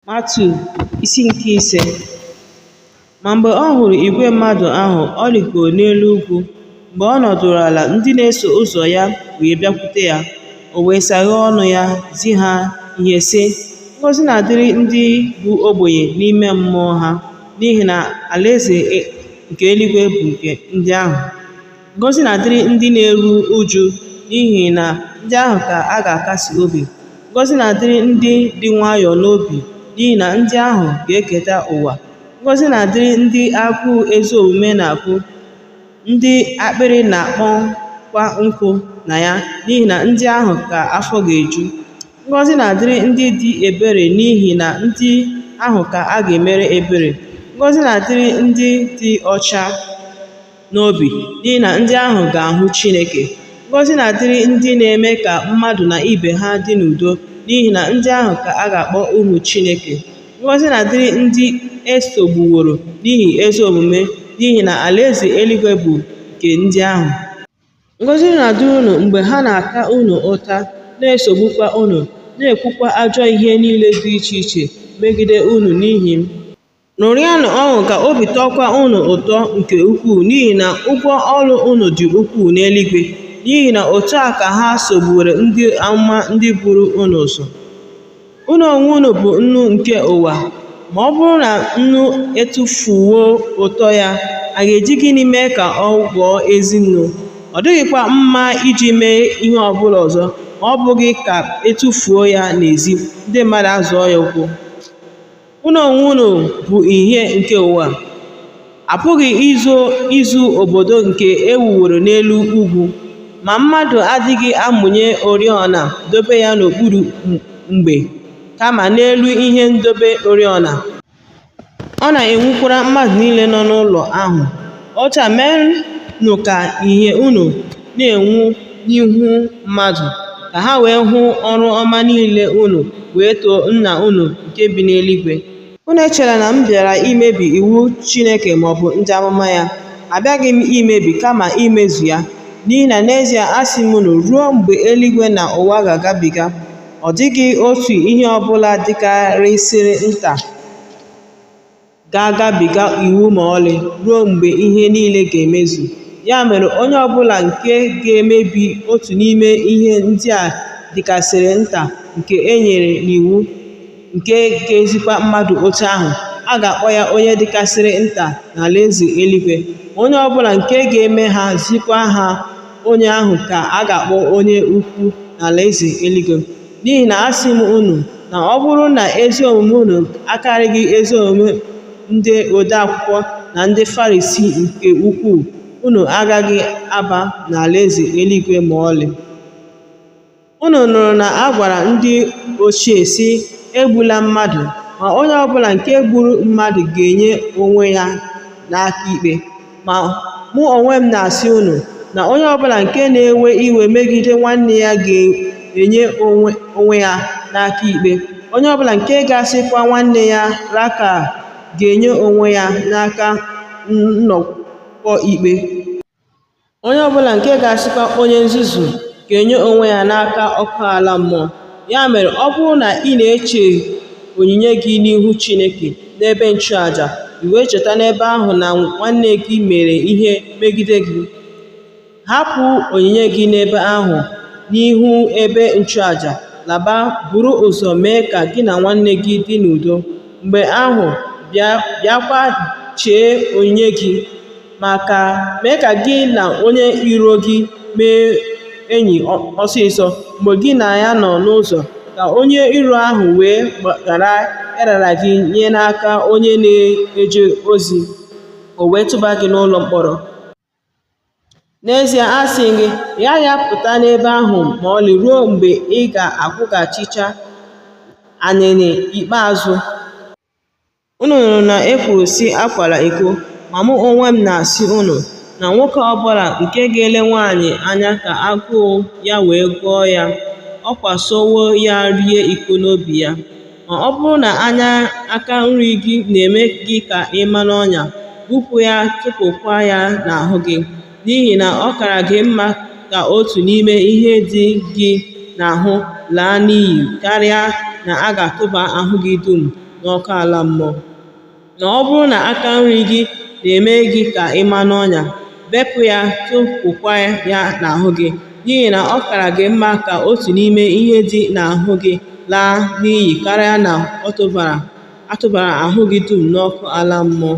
Matiu isi nke ise Ma mgbe ọ hụrụ igwe mmadụ ahụ, ọ rịgoro n'elu ugwu. Mgbe ọ nọdụrụ ala, ndị na-eso ụzọ ya wee bịakwute ya. O wee saghee ọnụ ya zi ha ihe sị, Ngọzi na-adịrị ndị bụ ogbenye n'ime mmụọ ha, n'ihi na alaeze nke eluigwe bụ nke ndị ahụ. Ngọzi na-adịrị ndị na-eru uju n'ihi na ndị ahụ ka a ga-akasi obi. Ngọzi na-adịrị ndị dị nwayọọ n'obi n'ihi na ndị ahụ ga-eketa ụwa. Ngọzi na-adịrị ndị agụụ ezi omume na-agụ, ndị akpịrị na-akpọkwa nkụ na ya n'ihi na ndị ahụ ka afọ ga-eju. Ngọzi na-adịrị ndị dị ebere n'ihi na ndị ahụ ka a ga-emere ebere. Ngọzi na-adịrị ndị dị ọcha. n'obi n'ihi na ndị ahụ ga-ahụ Chineke. Ngọzi na-adịrị ndị na-eme ka mmadụ na ibe ha dị n'udo n'ihi na ndị ahụ ka a ga-akpọ ụmụ Chineke. Ngọzi na-adịrị ndị e sogbuworo n'ihi ezi omume n'ihi na alaeze eluigwe bụ nke ndị ahụ. Ngọzi na-adịrị unu mgbe ha na-ata unu ụta, na-esogbukwa unu, na-ekwukwa ajọ ihe niile dị iche iche megide unu n'ihi m. Ṅụrịanụ ọṅụ ka obi tọọkwa unu ụtọ nke ukwuu n'ihi na ụgwọ ọrụ unu dị ukwuu n'eluigwe, n'ihi na otu a ka ha sogbuworo ndị amụma ndị buru unu ụzọ. Unu onwe unu bụ nnu nke ụwa. Ma ọ bụrụ na nnu etufuo ụtọ ya, a ga-eji gịnị mee ka ọ ghọọ ezi nnu? Ọ dịghịkwa mma iji mee ihe ọ bụla ọzọ ma ọ bụghị ka e tufuo ya n'ezi, ndị mmadụ azọọ ya ụkwụ. Unu onwe unu bụ ìhè nke ụwa. A pụghị izo izu obodo nke e wuworo n'elu ugwu, ma mmadụ adịghị amụnye oriọna dobe ya n'okpuru mgbe, kama n'elu ihe ndobe oriọna. Ọ na-enwukwara mmadụ niile nọ n'ụlọ ahụ. Otu a, meenụ ka ìhè unu na-enwu n'ihu mmadụ, ka ha wee hụ ọrụ ọma niile unu wee too Nna unu nke bi n'eluigwe. Unu echela na m bịara imebi iwu Chineke maọbụ ndị amụma ya. Abịaghị m imebi, kama imezu ya. N'ihi na n'ezie asị m unu, ruo mgbe eluigwe na ụwa ga-agabiga, ọ dịghị otu ihe ọbụla dịkarịsịrị nta ga-agabiga iwu ma ọlị ruo mgbe ihe niile ga-emezu. Ya mere, onye ọ bụla nke ga-emebi otu n'ime ihe ndị a dịkasịrị nta nke e nyere n'iwu, nke ga-ezikwa mmadụ otu ahụ, a ga-akpọ ya onye dịkasịrị nta n'alaeze eluigwe. Onye ọ bụla nke ga-eme ha, zikwa ha, onye ahụ ka a ga-akpọ onye ukwu n'alaeze eluigwe. N'ihi na asị m unu na ọ bụrụ na ezi omume unu akarịghị ezi omume ndị ode akwụkwọ na ndị Farisii nke ukwuu, unu agaghị aba n'alaeze eluigwe ma ọlị. Unu nụrụ na a gwara ndị ochie, sị, Egbula mmadụ, ma onye ọ bụla nke gburu mmadụ ga-enye onwe ya n'aka ikpe. Ma mụ onwe m na-asị unu na onye ọbụla nke na-ewe iwe megide nwanne ya ga-enye onwe ya n'aka ikpe. Onye ọbụla nke ga-asịkwa nwanne ya raka ga-enye onwe ya n'aka nnọkọ ikpe. Onye ọbụla nke ga-asịkwa onye nzuzu ga-enye onwe ya n'aka ọkụ ala mmụọ. Ya mere, ọ bụrụ na ị na-eche onyinye gị n'ihu Chineke n'ebe nchụaja, i wee cheta n'ebe ahụ na nwanne gị mere ihe megide gị, hapụ onyinye gị n'ebe ahụ n'ihu ebe nchụaja, laba, buru ụzọ mee ka gị na nwanne gị dị n'udo. Mgbe ahụ, bịakwa chee onyinye gị. ma ka mee ka gị na onye iro gị mee enyi ọsịsọ mgbe gị na ya nọ n'ụzọ, ka onye iro ahụ wee ghara ịrara gị nye n'aka onye na-eje ozi, o wee tụba gị n'ụlọ mkpọrọ. N'ezie asị gị, ị gaghị apụta n'ebe ahụ ma ọlị ruo mgbe ị ga-akwụghachicha anịnị ikpeazụ. Unu nụrụ na e kwuru sị akwala iko, ma mụ onwe m na-asị unu, na nwoke ọbụla nke ga-ele nwaanyị anya ka agụụ ya wee gụọ ya, ọ kwasowo ya rị iko n'obi ya. Ma ọ bụrụ na anya aka nri gị na-eme gị ka ị ma n'ọnya, gbupụ ya tụpụkwa ya n'ahụ gị, n'ihi na ọ kara gị mma ka otu n'ime ihe dị gị n'ahụ laa n'iyi karịa na a ga-atụba ahụ gị dum n'ọkụ ala mmụọ. Na ọ bụrụ na aka nri gị na-eme gị ka ị ma n'ọnya, bepụ ya tụpụkwa ya n'ahụ gị, n'ihi na ọ kara gị mma ka otu n'ime ihe dị n'ahụ gị laa n'iyi karịa na a tụbara ahụ gị dum n'ọkụ ala mmụọ.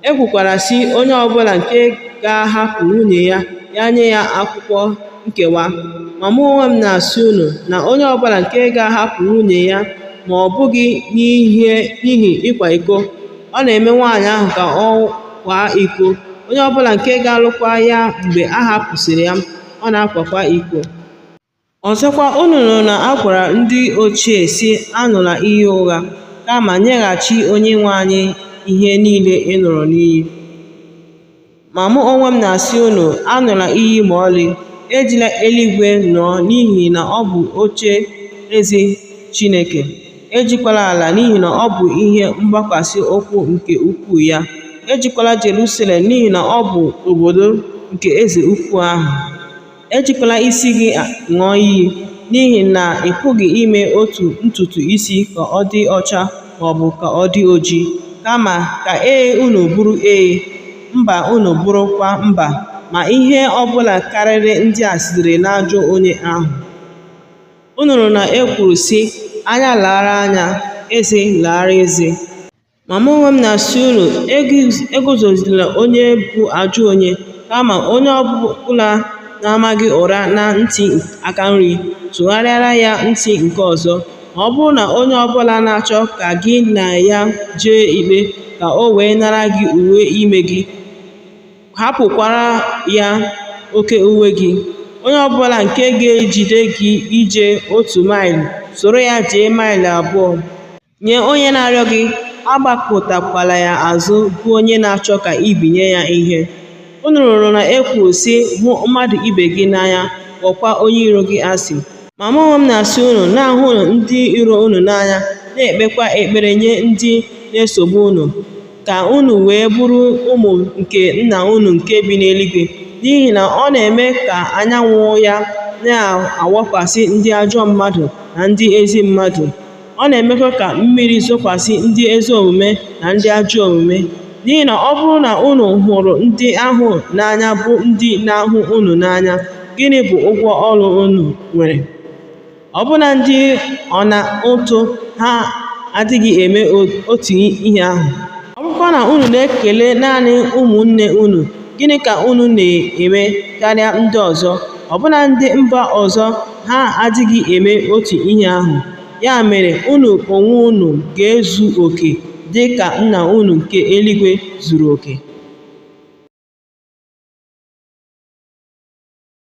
E kwukwara sị onye ọbụla nke ga-ahapụ nwunye ya ya nye ya akwụkwọ nkewa. Ma mụ onwe m na-asị unu na onye ọbụla nke ga-ahapụ nwunye ya ma ọ bụghị n'ihi ịkwa iko, ọ na-eme nwaanyị ahụ ka ọ kwaa iko. Onye ọbụla nke ga-alụkwa ya mgbe a hapụsịrị ya, ọ na-akwakwa iko. Ọzọkwa, unu nụrụ na a gwara ndị ochie sị, Aṅụla iyi ụgha, kama nyeghachi Onyenwe anyị ihe niile ị ṅụrụ n'iyi. Ma mụ onwe m na-asị unu, aṅụla iyi ma ọlị, ejila eluigwe ṅụọ n'ihi na ọ bụ oche eze Chineke, ejikwala ala n'ihi na ọ bụ ihe mgbakwasị ụkwụ nke ụkwụ ya, ejikwala Jerusalem n'ihi na ọ bụ obodo nke eze ukwu ahụ. Ejikwala isi gị ṅụọ iyi, n'ihi na ị pụghị ime otu ntutu isi ka ọ dị ọcha ma ọ bụ ka ọ dị oji. Kama, ka ee unu bụrụ ee, mba unu bụrụkwa mba, ma ihe ọ bụla karịrị ndị a sitere n'ajọ onye ahụ. Unu nụrụ na e kwuru, sị, Anya laara anya, eze laara eze. Ma mụ onwe m na-asị unu, eguzozila onye bụ ajọ onye, kama onye ọ bụla na-ama gị ụra na ntị aka nri, tụgharịara ya ntị nke ọzọ. Ma ọ bụrụ na onye ọ bụla na-achọ ka gị na ya jee ikpe, ka o wee nara gị uwe ime gị, hapụkwara ya oke uwe gị. Onye ọ bụla nke ga-ejide gị ije otu maịlụ, soro ya jee maịlụ abụọ. Nye onye na-arịọ gị, agbakụtakwala ya azụ bụ onye na-achọ ka i binye ya ihe. Unu nụrụ na e kwuru sị, hụ mmadụ ibe gị n'anya, kpọkwa onye iro gị asị. Ma mụ onwe m na-asị unu, na-ahụnụ ndị iro unu n'anya, na-ekpekwa ekpere nye ndị na-esogbu unu, ka unu wee bụrụ ụmụ nke Nna unu nke bi n'eluigwe, n'ihi na ọ na-eme ka anyanwụ ya na-awakwasị ndị ajọ mmadụ na ndị ezi mmadụ. Ọ na-emekwa ka mmiri zokwasị ndị ezi omume na ndị ajọ omume. N'ihi na ọ bụrụ na unu hụrụ ndị ahụ n'anya bụ ndị na-ahụ unu n'anya, gịnị bụ ụgwọ ọrụ unu nwere? Ọbụna ndị ọna ụtụ ha adịghị eme otu ihe ahụ? Ọ bụrụkwa na unu na-ekele naanị ụmụnne unu, gịnị ka unu na-eme karịa ndị ọzọ, ọbụna ndị mba ọzọ? ha adịghị eme otu ihe ahụ. Ya mere, unu onwe unu ga-ezu oke dị ka Nna unu nke eluigwe zuru oke.